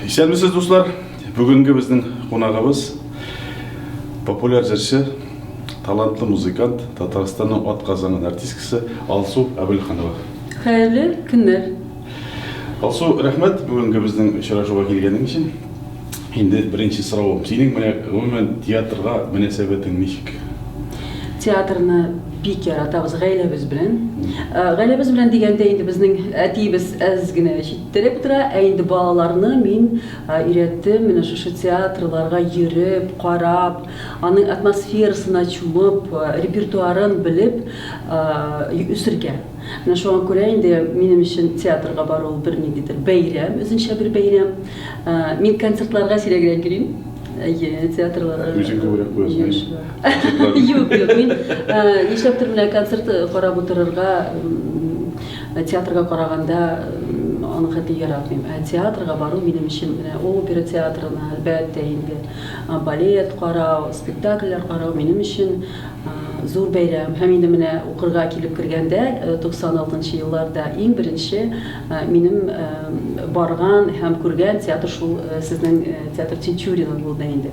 Исәнмесез, дуслар! Бүгенге безнең кунагыбыз популяр җырчы, талантлы музыкант, Татарстанның атказанган артисткасы Алсу Әбелханова. Хәерле көннәр! Алсу, рәхмәт бүгенге безнең очрашуга килгәнең өчен. Инде беренче соравым. Синең менә гомумән театрга мөнәсәбәтең ничек? театрны бик яратабыз гаиләбез белән. Гаиләбез белән дигәндә инде безнең әтиебез әз генә Теләп тора, ә инде балаларны мин өйрәттем, менә шушы театрларга йөреп, карап, аның атмосферасына чумып, репертуарын белеп үсергә. Менә шуңа күрә инде минем өчен театрга бару ул бернидидер бәйрәм, үзенчә бер бәйрәм. Мин концертларга сирәгрәк йөрим. Әйе, театрларга. Үзең күбрәк куясың. Юк, юк, мин нишләптер менә концерт карап утырырга Театрга караганда, аны хәтти яратмыйм. Ә театрга бару минем өчен менә опера театрына, әлбәттә инде, балет карау, спектакльләр карау минем өчен зур бәйрәм. Һәм инде менә укырга килеп кергәндә, 96 нчы елларда иң беренче минем барган һәм күргән театр шул сезнең театр Тинчурина булды инде.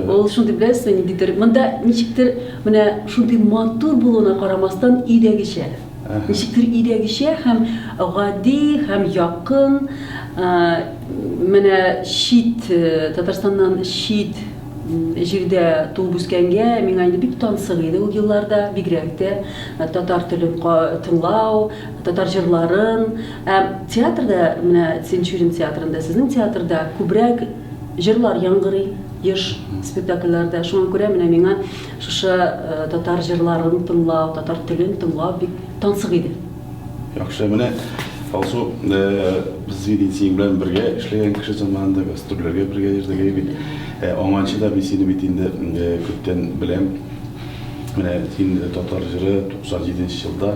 Ул шундый беләсезме, ниндидер, монда ничектер менә шундый матур булуына карамастан, өйдәгечә. Зикер өйдәгечә һәм гади һәм якын, менә чит Татарстаннан чит җирдә туып үскәнгә миңа инде бик тансык иде ул елларда, бигрәк тә татар телен тыңлау, татар җырларын. Ә театрда, менә Тинчурин театрында, сезнең театрда күбрәк җырлар яңгырый, еш спектакльләрдә, шуңа күрә менә миңа Шушы татар җырларын тыңлау, татар телен тыңлау бик тансык иде. Яхшы, менә Алсу, без бит инде синең белән бергә эшләгән кеше заманында, гастрольләргә бергә йөрдек бит. Аңанчы да мин сине бит инде күптән беләм. Менә син татар җыры 97 нче елда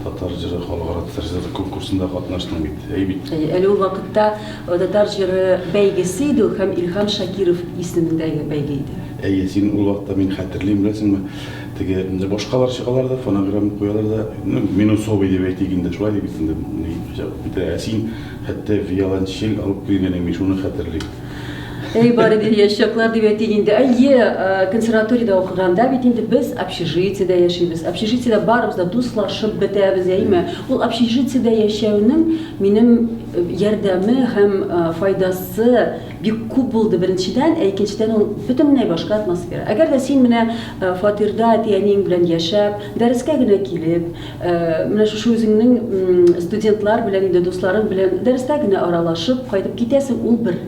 татар җыры халыкара татар җыры конкурсында катнаштың бит. Әйе бит? Әйе, әле ул вакытта татар җыры бәйгесе иде ул һәм Илһам Шакиров исемендәге бәйге иде. Әйе, син ул вакытта, мин хәтерлим, беләсеңме, теге башкалар чыгалар да, фонограмма куялар да, ну, минусовый дип әйтик инде, шулай дип инде, ни, бит, ә син хәтта виолончель алып килгән идең, мин шуны хәтерлим. Әй, бары бер яшь чаклар дип әйтик инде. Әйе, э, консерваториядә укыганда бит инде без общежитиедә яшибез. Общежитиедә барыбыз да дуслашып бетәбез, әйме? Ул общежитиедә яшәүнең минем э, ярдәме һәм э, файдасы Бик күп булды, беренчедән, ә икенчедән ул бөтенләй башка атмосфера. Әгәр дә син менә фатирда әти-әниең белән яшәп, дәрескә генә килеп, менә шушы үзеңнең студентлар белән, инде дусларың белән дәрестә генә аралашып кайтып китәсең, ул бер.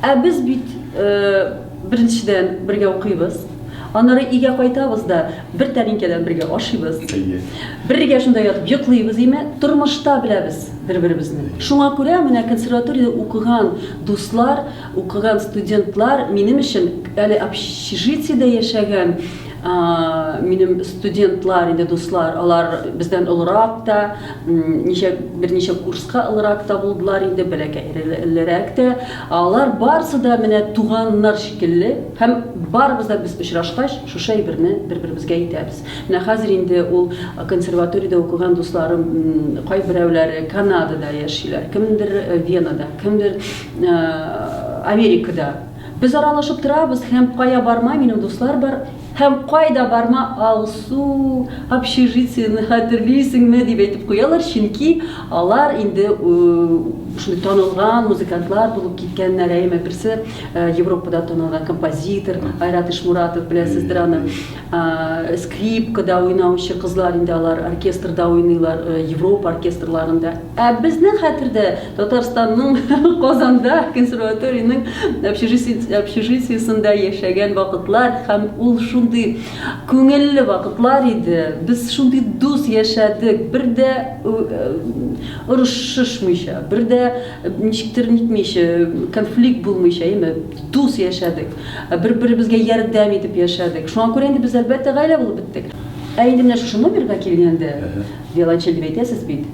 Ә без бит Беренчедән, бергә укыйбыз. Аннары өйгә кайтабыз да, бер тәлинкәдән бергә ашыйбыз. Әйе. Бергә шунда ятып йоклыйбыз, димәк, тормышта беләбез бер-беребезне. Шуңа күрә менә консерваториядә укыган дуслар, укыган студентлар минем өчен, әле общежитиедә яшәгән минем студентлар инде, дуслар, алар бездән олырак та, ничә, берничә курска олырак та булдылар инде, бәләкәйлерәк тә. Алар барысы да менә туганнар шикелле һәм барыбыз да без очрашкач, шушы әйберне бер-беребезгә әйтәбез. Менә хәзер инде ул консерваториядә укыган дусларым кайберәүләре Канадада яшиләр, кемдер Венада, кемдер Америкада. Без аралашып торабыз һәм кая барма минем дуслар бар, Һәм кайда барма, Алсу, общежитиене хәтерлисеңме? дип әйтеп куялар, чөнки алар инде шундый танылган музыкантлар булып киткәннәр, әйеме, берсе Европада танылган композитор Айрат Ишмуратов, беләсездер аны, скрипкада уйнаучы кызлар инде алар, оркестрда уйныйлар, Европа оркестрларында. Ә безнең хәтердә Татарстанның Казанда консерваториянең общежитиесендә яшәгән вакытлар һәм ул шундый күңелле вакытлар иде. Без шундый дус яшәдек, бер дә орышышмыйча, бер дә ничектер нитмичә, конфликт булмыйча, әйме, дус яшәдек. Бер-беребезгә ярдәм итеп яшәдек. Шуңа күрә инде без әлбәттә гаилә булып беттек. Ә инде менә шушы номерга килгәндә, Виолончель дип әйтәсез бит.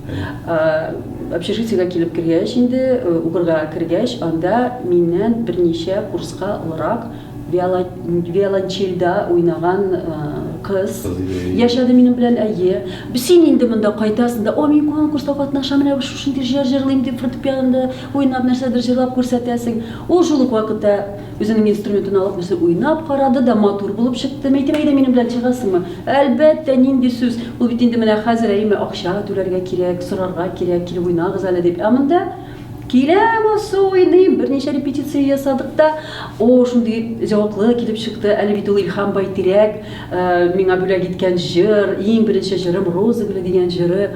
Общежитиегә килеп кергәч инде, укырга кергәч, анда миннән берничә курска олырак виолончельдә уйнаган кыз яшәде минем белән, әйе. Син инде монда кайтасың да, о, мин конкурста катнашам, менә шушындый җыр җырлыйм дип, фортепианода уйнап нәрсәдер җырлап күрсәтәсең. Ул шул ук вакытта Үзенең инструментын алып, үзе уйнап карады да, матур булып чыкты. Мәйтәм, әйдә минем белән чыгасыңмы? Әлбәттә, нинди сүз. Ул бит инде менә хәзер, әйеме, акча түләргә кирәк, сорарга кирәк, килеп уйнагыз әле дип. Ә монда Киләм, асы уйныйм, берничә репетиция ясадык та, о, шундый җаваплы килеп чыкты, әле бит ул Илһам Байтирәк, э, миңа бүләк иткән җыр, иң беренче җырым Роза гөле дигән җыры.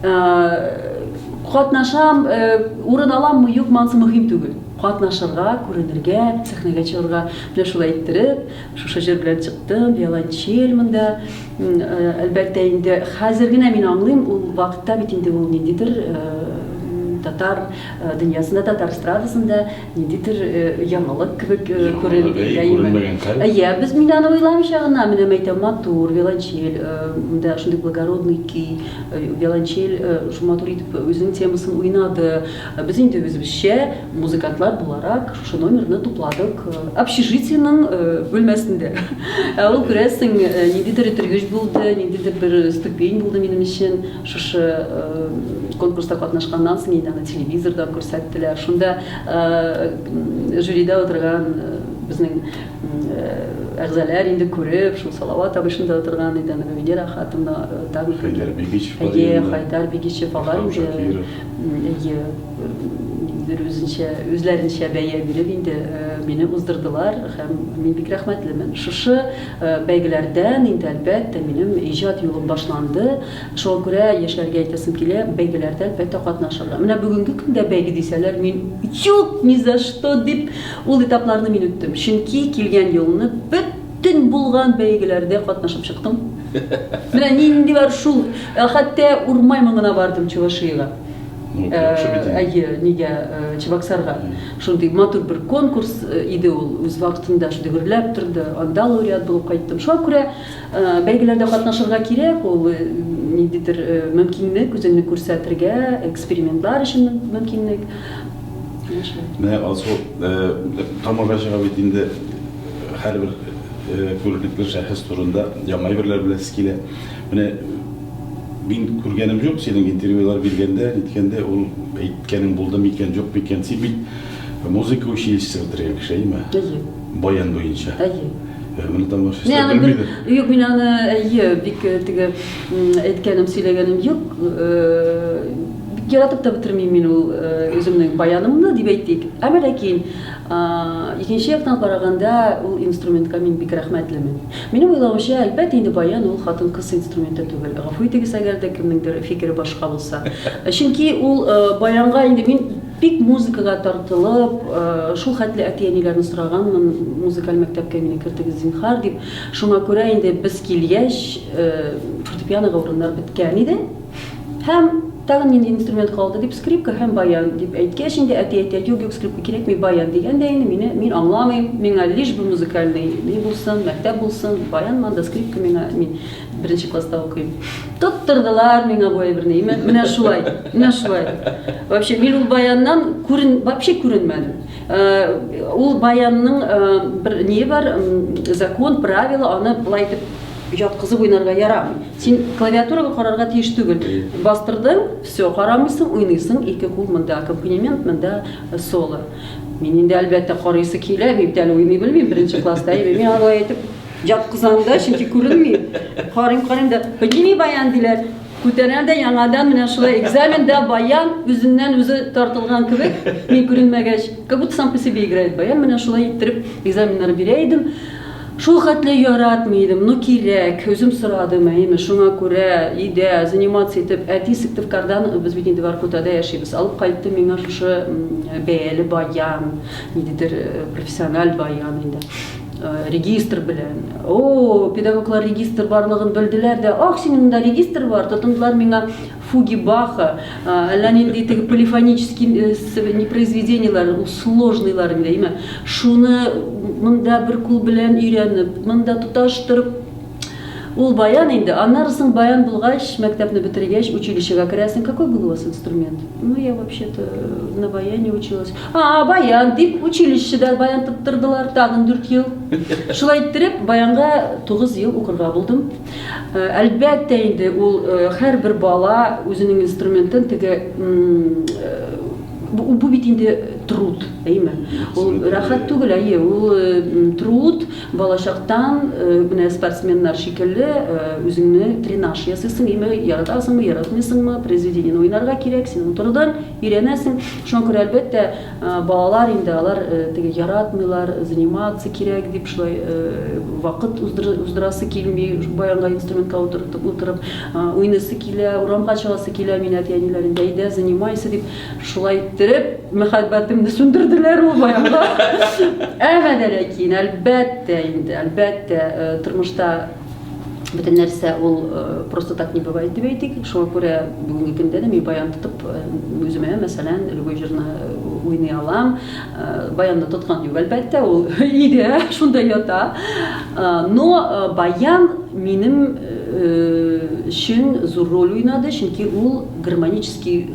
Э, катнашам, э, урын аламмы, юкмы, ансы мөһим түгел. Катнашырга, күренергә, сәхнәгә чыгарга. Менә шулай иттереп, шушы җыр белән чыктым, виолончель монда. Әлбәттә инде, хәзер генә мин аңлыйм, ул вакытта бит инде ул ниндидер татар дөньясында, татар эстрадасында ниндидер яңалык кебек күренде. Яңалык, әйе, күренмәгән хәл. Әйе, без, мин аны уйламыйча гына, менә мәйтәм, матур виолончель, монда шундый благородный көй, виолончель шул матур итеп үзенең темасын уйнады. Без инде үзебезчә, музыкантлар буларак, шушы номерны тупладык общежитиенең бүлмәсендә. Ә ул, күрәсең, ниндидер этергеч булды, ниндидер бер ступень булды минем өчен. Шушы конкурста катнашканнан соң инде аны телевизордан күрсәттеләр. Шунда жюрида утырган безнең әгъзаләр инде күреп, шул Салават абый шунда утырган иде, аны Венера хатыны, Хәйдәр Бигичев, Хәйдәр Бигичев алар инде. Әйе, ниндидер үзенчә, үзләренчә бәя биреп инде мине уздырдылар һәм мин бик рәхмәтлемен. Шушы бәйгеләрдән инде, әлбәттә, минем иҗат юлым башланды. Шуңа күрә яшьләргә әйтәсем килә, бәйгеләрдә әлбәттә катнашырга. Менә бүгенге көндә бәйге дисәләр, мин юк, ни за что дип, ул этапларны мин үттем. Чөнки килгән елны бөт Төн булган бәйгеләрдә катнашып чыктым. Менә нинди бар шул. Ә хәтта Урмай моңына бардым Чувашиягә. Ну, Э, яхшы бит инде. Әйе, нигә э, Чебоксарга. Шундый матур бер конкурс э, иде ул. Үз вакытында шундый гөрләп торды. Анда лауреат булып кайттым. Шуңа күрә э, бәйгеләрдә катнашырга кирәк, ул э, ниндидер э, мөмкинлек, үзеңне күрсәтергә, экспериментлар өчен мөмкинлек. Менә Алсу тамырга чыга бит инде һәрбер күренекле шәхес турында яңа әйберләр беләсе килә. Менә мин күргәнем юк синең интервьюлар биргәндә, ниткәндә ул әйткәнең булды микән, юк микән? Син бит музыка училищесы бетергән кеше, әйеме? Әйе. Баян буенча. Әйе. Ә моны там вообще Мин аны бел... белмидер. Юк, мин аны әйе, бик э, теге м, әйткәнем, сөйләгәнем юк. Э, Бик яратып та бетермим мин ул э, үземнең баянымны дип әйтик. Әмма ләкин а, икенче яктан караганда ул инструментка мин бик рәхмәтлемен. Минем уйлавымча, әлбәттә инде баян ул хатын-кыз инструменты түгел. Гафу итегез, әгәр дә кемнеңдер фикере башка булса. Чөнки ул э, баянга инде мин Бик музыкага тартылып, шул хәтле әти-әниләрне сораганмын, музыкаль мәктәпкә мине кертегез, зинһар, дип. Шуңа күрә инде без килгәч, фортепианога урыннар беткән иде. Һәм тагын нинди инструмент калды, дип, скрипка һәм баян, дип әйткәч инде, әти әйтә, юк, юк, скрипка кирәкми, баян, дигән дә инде мине, мин аңламыйм, миңа лишь бы музыкальный ни булсын, мәктәп булсын, баянмы анда, скрипка миңа, мин. Беренче класста укыйм. Тоттырдылар миңа бу әйберне. Менә шулай, менә шулай. Вообще мин ул баяннан күрен, вообще күренмәдем. Э, ул баянның э, бер не бар, закон, правила, аны былай итеп яткызып уйнарга ярамый. Син клавиатурага карарга тиеш түгел. Бастырдың, все, карамыйсың, уйныйсың, ике кул монда аккомпанемент, монда э, соло. Мин инде әлбәттә карыйсы килә, мин әле уйный белмим, беренче класста, мин алай итеп Яткызам да, чөнки күренми. Карыйм, карыйм да, подними баян диләр. Күтәрәм дә яңадан менә шулай экзаменда баян үзеннән үзе тартылган кебек, мин күренмәгәч, как будто сам по себе играет баян, менә шулай иттереп экзаменнар бирә идем. Шул хәтле яратмый идем, ну кирәк, үзем сорадым, әйеме, шуңа күрә өйдә заниматься итеп, әти Сыктывкардан, без бит инде Воркутада яшибез, алып кайтты миңа шушы бәяле баян, ниндидер э, профессиональ баян инде. регистр белән. О, педагоглар регистр барлыгын белделәр дә, ах, синең монда регистр бар, тотындылар миңа фуги Баха, әллә нинди теге полифонический не произведениелар, сложныйлар инде, әйме. Шуны монда бер кул белән өйрәнеп, монда тоташтырып Ул баян инде, аннары соң баян булгач, мәктәпне бетергәч, училищега керәсең. Какой был у вас инструмент? Ну, я вообще-то на баяне училась. А, баян, дип, училищеда баян тоттырдылар, тагын дүрт ел. Шулай иттереп, баянга тугыз ел укырга булдым. Э, әлбәттә инде, ул э, һәрбер бала үзенең инструментын теге э, бу бит инде труд, әйме? Ул рәхәт түгел, әйе, ул труд. Балачактан менә спортсменнар шикелле үзеңне тренаж ясыйсың, име яратасыңмы, яратмыйсыңмы, произведениене уйнарга кирәк, син утырдың, өйрәнәсең. Шуңа күрә, әлбәттә, балалар инде алар теге яратмыйлар, заниматься кирәк дип шулай вакыт уздырасы килми, баянга инструментка утыртып утырып уйныйсы килә, урамга чыгасы килә, мин әти-әниләрен дә әйдә, занимайся дип. Шулай иттереп, мәхәббәтемне сүндерделәр ул баянга. Әмма дә ләкин, әлбәттә инде, әлбәттә, э, тормышта бөтен нәрсә ул э, просто так не бывает дип әйтик. Шуңа күрә бүгенге көндә дә мин баян тотып э, үземә, мәсәлән, любой җырны уйный алам. Баянны тоткан юк, әлбәттә, ул иде, шунда ята. Но баян минем өчен зур роль уйнады, чөнки ул гармонический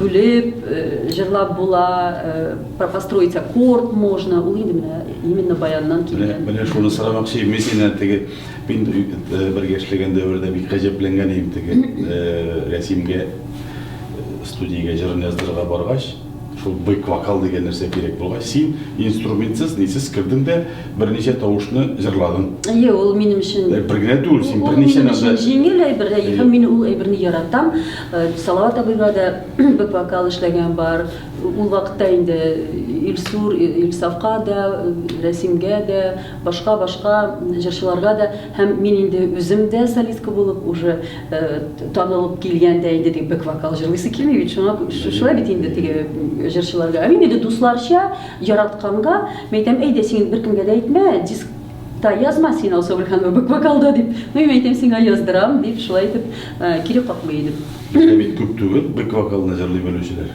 Бүлеп, җырлап була, построить аккорд можно, ул инде менә именно баяннан килгән. Менә шуны сорамакчы идем, мин синнән теге, мин бер яшьлегем дәвердә бик гаҗәпләнгән идем теге Рәсимгә студиягә җырын яздырырга баргач, шул бэк вокал дигән нәрсә кирәк булгач, син инструментсыз, нисез кердең дә берничә тавышны җырладың. Әйе, ул минем өчен. Бер генә түгел, син берничә нәрсә. Җиңел әйбер, һәм мин ул әйберне яратам. Салават абыйга да бер вокал эшләгән бар. Ул вакытта инде Илсур, Илсафка да, Рәсимгә дә, башка-башка җырчыларга да һәм мин инде үзем дә солистка булып уже танылып килгәндә инде теге бэк вокал җырлыйсы килми бит, шуңа шулай бит инде теге җырчыларга. Ә мин инде дусларча яратканга, мин әйтәм, әйдә син беркемгә дә әйтмә, диск Та язма син Алсу Бөрханова бөк вокалда дип. Ну, мин әйтәм сиңа яздырам дип, шулай итеп кире какмый идем. Бездә бит күп түгел бөк вокалны җырлый белүчеләр.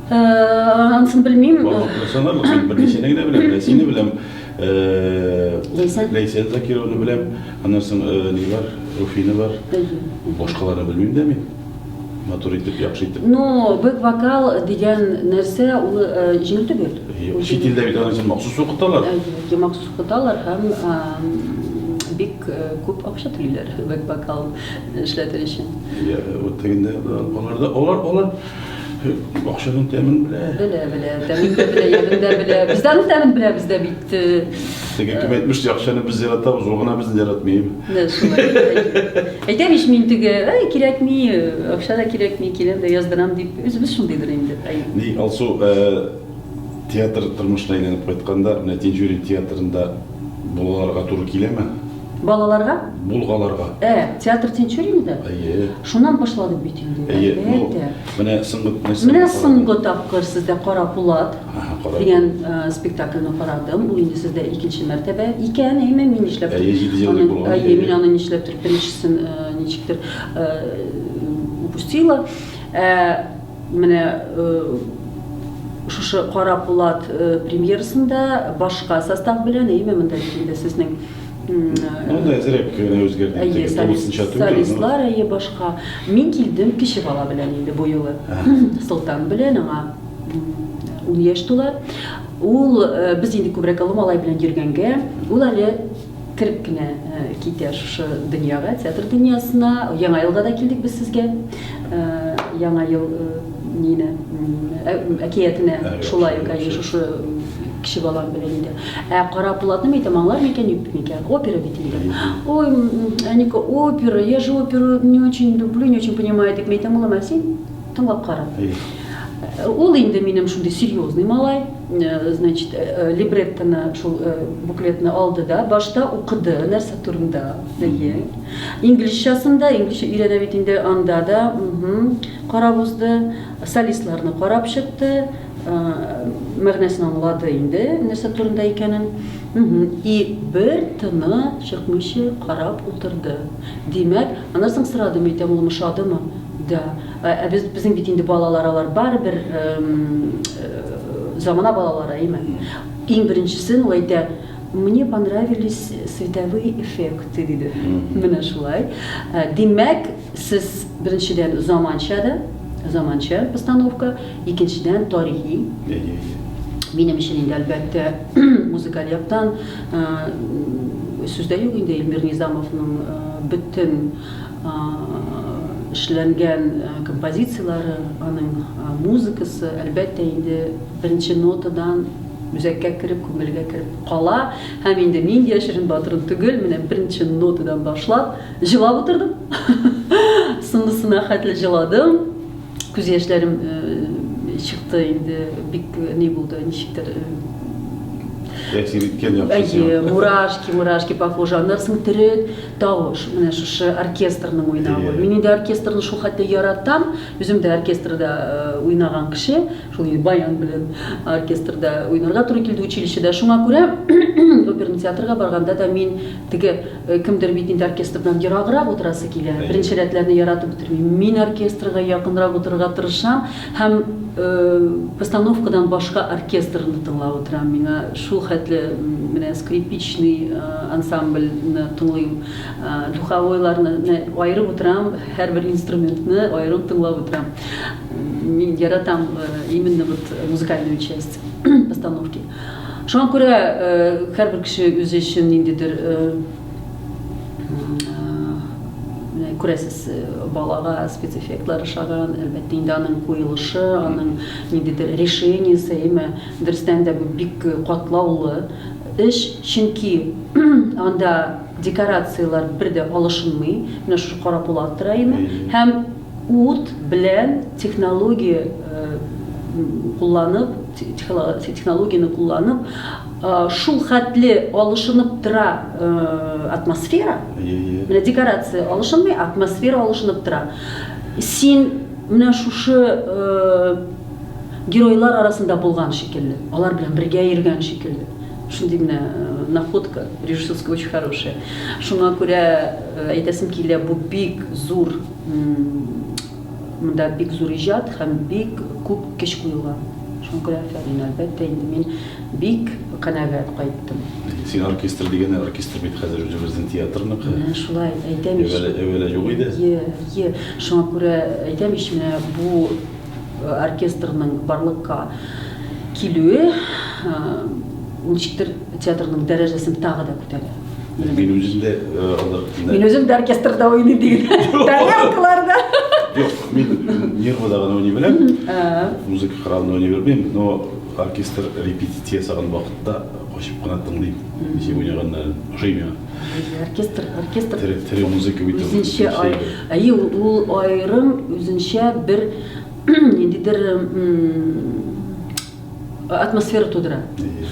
Ансын белмим. Барлыкны санарлык, мин берничәне генә беләм, менә сине беләм. Ләйсән. Ләйсән Закировны беләм. Аннан соң ни бар? Руфина бар. Башкаларны белмим дә мин. матур итеп, яхшы итеп. Ну, бэк вокал дигән нәрсә ул э, җиңел түгел. Чит илдә бит аны махсус укыталар. Әйе, махсус укыталар һәм бик э, күп акча түлиләр бэк вокал эшләтер өчен. Вот тегендә аларда алар алар Акчаның тәмен белә. Белә, белә. Тәмен дә белә, ямен дә белә. Без дә аның тәмен беләбез дә бит. Теге кем әйтмешли, акчаны без яратабыз, ул гына безне яратмый. Менә шулай. Әйтәм ич мин теге, әй, кирәкми, акча да кирәкми, киләм дә яздырам дип, үзебез шундыйдыр инде. Ни, Алсу, театр тормышына әйләнеп кайтканда, менә Тинчурин театрында булаларга туры киләме? Балаларга? Булгаларга. Ә, театр Тинчурин да? Әйе. Шуннан башладык бит инде. Әйе. Әлбәттә. Менә соңгы нәрсә. Менә соңгы тапкыр сездә Кара Пулат дигән э, спектакльне карадым. Бу инде сездә икенче мәртәбә икән, әйме, мин нишләп? Әйе, җиде ел булган. Әйе, мин аны нишләптер беренчесен э, ничектер э, упустила. Менә шушы Кара Пулат премьерасында башка состав белән, әйеме, монда бит инде сезнең Монда әзерәк кенә үзгәрде. Әйе, солистлар, әйе, башка. Мин килдем кече бала белән инде бу юлы. Солтан белән аңа ун яшь тула. Ул без инде күбрәк олы малай белән йөргәнгә, ул әле кереп кенә китә шушы дөньяга, театр дөньясына. Яңа елга да килдек без сезгә. Яңа ел нине әкиятенә шулай ук әйе шушы кеше балам белән инде. Ә Кара Булатны әйтәм, аңлар микән, юк микән? Опера бит инде. Ой, Әника, опера, я же оперу не очень люблю, не очень понимаю, дип әйтәм, улым, ә син тыңлап кара. Ул инде минем шундый серьезный малай. Значит, э, либреттоны, шул э, буклетны алды да, башта укыды, нәрсә турында, әйе. Инглизчәсен дә, инглизчә өйрәнә бит инде анда да, угу, карап узды, солистларны карап чыкты, э, мәгънәсен аңлады инде, нәрсә турында икәнен. Угу. И бер тына чыкмыйча карап утырды. Димәк, аннан соң сорадым, әйтәм, ул мышадымы? Да. Ә без безнең бит инде балалар алар барыбер замана балалары, әйме? Иң беренчесен ул әйтә, мне понравились световые эффекты диде. Менә шулай. Ә, димәк, сез беренчедән заманча да, заманча постановка, икенчедән тарихи. Минем өчен инде әлбәттә музыкаль яктан сүздә юк инде Эльмир Низамовның бөтен эшләнгән композицияләре, аның музыкасы, әлбәттә, инде беренче нотадан үзәккә кереп, күңелгә кереп кала. Һәм инде мин яшерен батырын түгел, менә беренче нотадан башлап, җылап утырдым. Соңгысына хәтле җыладым. Күз яшьләрем чыкты инде, бик ни булды, ничектер Әйе, мурашки, мурашки похожи. Аннары соң төрет, Тавыш, менә шушы оркестрның уйнавы. Мин инде оркестрны шул хәтле яратам, үзем дә оркестрда уйнаган кеше, шул инде баян белән оркестрда уйнарга туры килде училищеда. Шуңа күрә оперный театрга барганда да мин теге кемдер бит инде оркестрдан ераграк утырасы килә. Беренче рәтләрне яратып бетермим. Мин оркестрга якынрак утырырга тырышам. Һәм постановкадан башка оркестрны тыңлап утырам, миңа шул хәтле менә скрипичный ансамбльны тыңлыйм, духовойларны, менә аерып утырам, һәрбер инструментны аерым тыңлап утырам. Мин яратам именно вот музыкальную часть постановки. Шуңа күрә һәрбер кеше үзе өчен ниндидер күрәсез, э, балага спецэффектлар ошаган, әлбәттә инде аның куелышы, аның ниндидер решениесе, әйме, дөрестән дә бу бик катлаулы эш, чөнки анда декорацияләр бер дә алышынмый, менә шушы кара пулат тора име, һәм ут белән технология э, кулланып, технологияне кулланып, Шул хәтле алышынып тора атмосфера. Менә декорация алышынмый, атмосфера алышынып тора. Син менә шушы геройлар арасында булган шикелле, алар белән бергә йөргән шикелле. Шундый менә находка режиссерская очень хорошая. Шуңа күрә әйтәсем килә, бу бик зур Монда бик зур иҗат һәм бик күп көч куелган. Шуңа күрә афәрин. Әлбәттә, инде мин бик канәгать кайттым. Син оркестр дигәнне оркестр бит хәзер үзебезнең театрныкы. Менә шулай әйтәм ич. Әүвәле, әүвәле юк иде. Ие, ие. Шуңа күрә әйтәм ич, менә бу оркестрның барлыкка килүе ничектер Театрның дәрәҗәсен тагы да күтәрә. Мин үзем дә алар кино. Мин үзем дә оркестрда уйный диген. Тарелкаларда. Юк, мин нервода гына уйный беләм. Музыка храмында уйный белмим, но оркестр репетиция сагын вакытта качып кына тыңлыйм. Ничек уйнаганнарын ошый миңа. Оркестр, оркестр. Тере, тере музыка бит. Үзенчә ай, әйе, ул аерым үзенчә бер ниндидер атмосфера тудыра.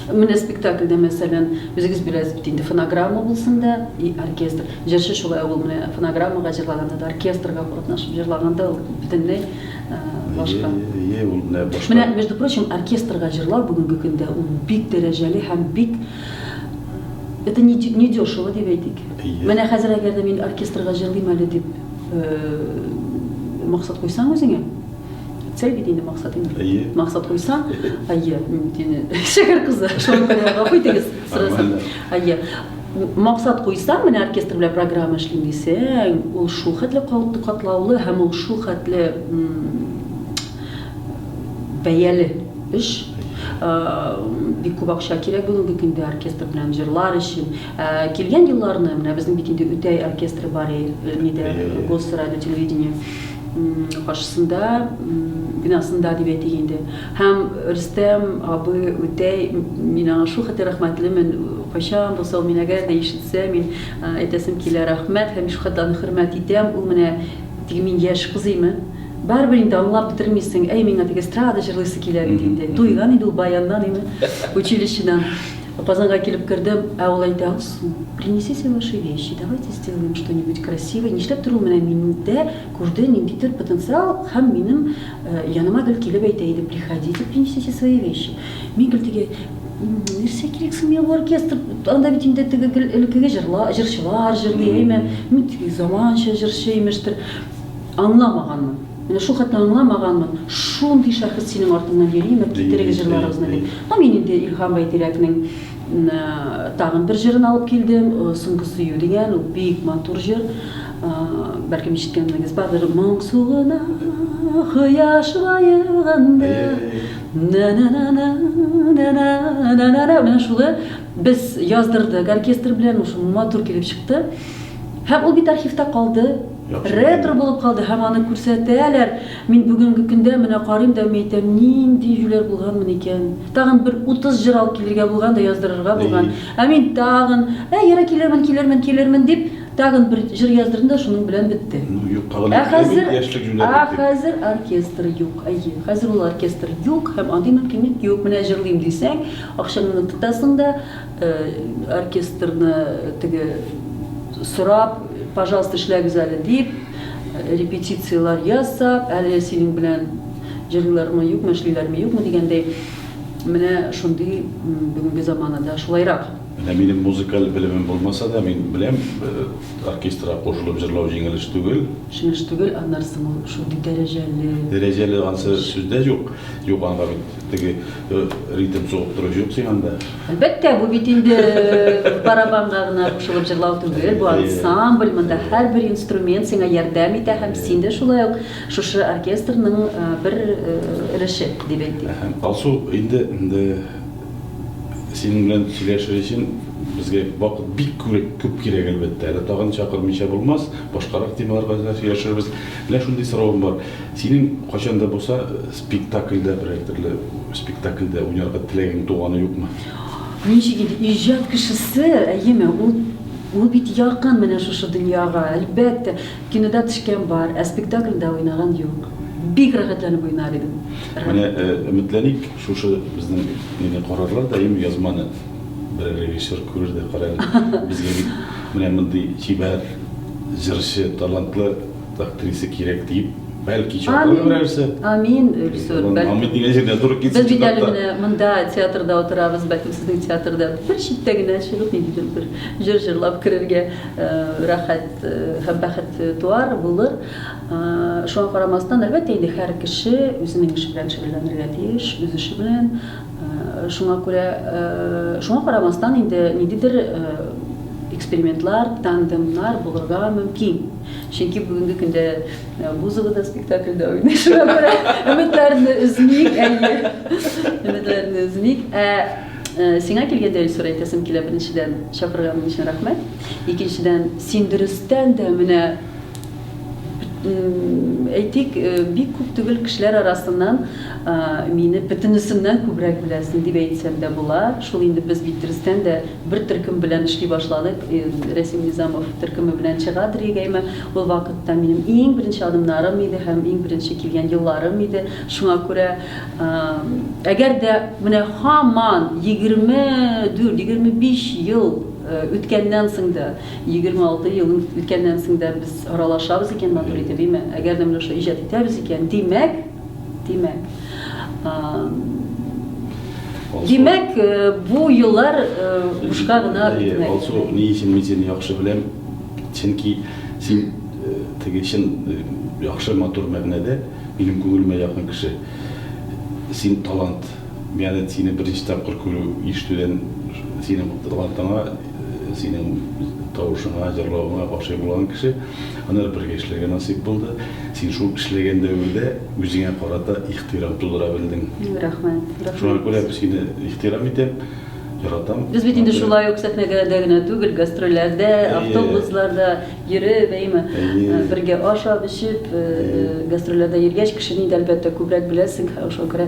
Менә спектакльдә, мәсәлән, үзегез беләсез бит инде, фонограмма булсын да и оркестр. Җырчы шулай ук ул менә фонограммага җырлаганда да, оркестрга катнашып җырлаганда ул бөтенләй башка. Әйе, ул менә башка. Менә, между прочим, оркестрга җырлау бүгенге көндә ул бик дәрәҗәле һәм бик это не не дешево дип әйтик. Менә хәзер әгәр дә мин оркестрга җырлыйм әле дип максат куйсаң үзеңә, Цель бит инде максат инде. Әйе. Максат куйсаң, әйе, мин бит инде шәһәр кызы. Шуңа күрә гафу итегез, сорасам. Әйе. Максат куйсаң, менә оркестр белән программа эшлим дисәң, ул шул хәтле катлаулы һәм ул шул хәтле бәяле эш. бик күп акча кирәк бүгенге көндә оркестр белән җырлар өчен. Килгән елларны, менә безнең бит инде Үтәй оркестры бар иде, Госрадио телевидение. каршысында бинасында дип әйтик инде һәм рөстәм абый үтәй мин аңа шул хәтле рәхмәтлемен кайчан булса мин әгәр дә ишетсә мин әйтәсем килә рәхмәт һәм шул хәтле аны хөрмәт итәм ул менә теге мин яшь кыз име барыбер инде аңлап бетермисең әй миңа теге эстрада җырлыйсы килә бит инде туйган инде ул баяннан инде училищедан Апазанга килеп кердем, ә ул әйтә, Алсу, принесите ваши вещи, давайте сделаем что-нибудь красивое, нишләп тор ул менә миндә күрде ниндидер потенциал һәм минем яныма гел килеп әйтә иде, приходите, принесите свои вещи. Мин гел теге, нәрсә кирәк соң миңа бу оркестр, анда бит инде теге гел элеккеге җырлар, җырчылар җырлый, әйме, мин теге заманча җырчы имештер, аңламаганмын. Менә шул хәтне аңламаганмын, шундый шәхес синең артыңнан йөриме, китерегез җырларыгызны дип. Һәм мин инде Илһам Байтирәкнең тагын бер җырын алып килдем, Соңгы сөю дигән, ул бик матур җыр. Бәлкем ишеткәннегез бардыр. Моң суына кояш баеганда. Менә шулы без яздырдык оркестр белән, шул матур килеп чыкты. Һәм ул бит архивта калды. Ретро булып калды һәм аны күрсәтәләр. Мин бүгенге көндә менә карыйм да мәйтәм, нинди юләр булганмын икән. Тагын бер 30 җыр алып килергә булган да яздырырга булган. Ә мин тагын, ә ярый килермен, килермен, килермен дип, тагын бер җыр яздырдым да шуның белән бетте. Ну юк, тагын Ә хәзер, ә хәзер оркестр юк. Әйе, хәзер ул оркестр юк һәм андый мөмкинлек юк. Менә җырлыйм дисәң, акчаңны тотасың да, Оркестрны теге сорап, пожалуйста, эшләгез әле дип, репетицияләр ясап, әле синең белән җырлыйлармы, юкмы, эшлиләрме, юкмы дигәндәй, менә шундый бүгенге заманада шулайрак. Менә минем музыкаль белемем булмаса да, мин беләм, оркестрга кушылып җырлау җиңел эш түгел. Җиңел эш түгел, аннары соң ул шундый дәрәҗәле. Дәрәҗәле ансы сүз дә юк. Юк, анда бит теге. Ритм сугып тору җук син анда. Әлбәттә, бу бит инде барабанга гына кушылып җырлау түгел, бу ансамбль, монда һәрбер инструмент сиңа ярдәм итә һәм син дә шулай ук шушы оркестрның бер өлеше дип әйтик. Алсу, инде синең белән сөйләшер өчен безгә вакыт бик күп кирәк, әлбәттә. Әле тагын чакырмыйча булмас, башкарак темаларга да сөйләшербез. Менә шундый соравым бар. Синең кайчан да булса Спектакльдә берәр төрле спектакльдә уйнарга теләгең туганы юкмы? Ничек инде, иҗат кешесе, әйеме, ул ул бит якын менә шушы дөньяга, әлбәттә. Кинода төшкән бар, ә спектакльдә уйнаган юк. Бик рәхәтләнеп уйнар идем. Менә өметләник, шушы безнең мине карарлар да, әйеме, язманы берәр режиссер күрер дә, кара әле, безгә бит менә мондый чибәр, җырчы, талантлы, Актриса кирәк диеп, бәлки чакырыр берәрсе. Амин, Өлсур. Амин дигән җирдә туры китсен. Без бит әле менә монда театрда утырабыз, бәлки сезнең театрда бер читтә генә чыгып ниндидер бер җыр җырлап керергә э, рәхәт э, һәм бәхет туар, булыр. Э, шуңа карамастан, әлбәттә инде һәр кеше үзенең эше белән шөгыльләнергә тиеш, үз эше белән. Шуңа күрә, шуңа карамастан инде ниндидер экспериментлар, тандемнар булырга мөмкин. Чөнки бүгенге көндә Бузова да спектакльдә уйный, шуңа күрә өметләрне өзмик, әйе. Өметләрне өзмик. Ә сиңа килгәндә Илсур әйтәсем килә, беренчедән, чакырганың өчен рәхмәт. Икенчедән, син дөрестән дә менә әйтик, бик күп түгел кешеләр арасыннан мине бөтенесеннән күбрәк беләсең дип әйтсәм дә була. Шул инде без бит дөрестән дә Бер төркем белән эшли башладык. Рәсим Низамов төркеме белән чыга Дригайма. Ул вакытта минем иң беренче адымнарым иде һәм иң беренче килгән елларым иде. Шуңа күрә, әгәр дә менә һаман 24-25 ел үткәннән соң да, 26 ел үткәннән соң да без аралашабыз икән матур итеп, әйме? Әгәр дә менә шулай иҗат итәбез икән, димәк, Димәк, димәк, бу еллар бушка гына үтмәде. Алсу, ни өчен мин сине яхшы беләм? Чөнки син теге чын яхшы матур мәгънәдә минем күңелемә якын кеше. Син талант. Миңа да сине беренче тапкыр күрү, ишетүдән синең талантыңа, синең тавышыңа, җырлавыңа гашыйк булган кеше. Аннары бергә эшләргә насыйп булды. Син шул эшләгән дәвердә үзеңә карата ихтирам тудыра белдең. Рәхмәт, рәхмәт. Шуңа күрә сине ихтирам итәм, яратам. Без бит инде шулай ук сәхнәдә дә генә түгел, гастрольләрдә, автобусларда йөреп, әйеме, бергә ашап-эчеп, гастрольләрдә йөргәч, кешене инде, әлбәттә, күбрәк беләсең, шуңа күрә.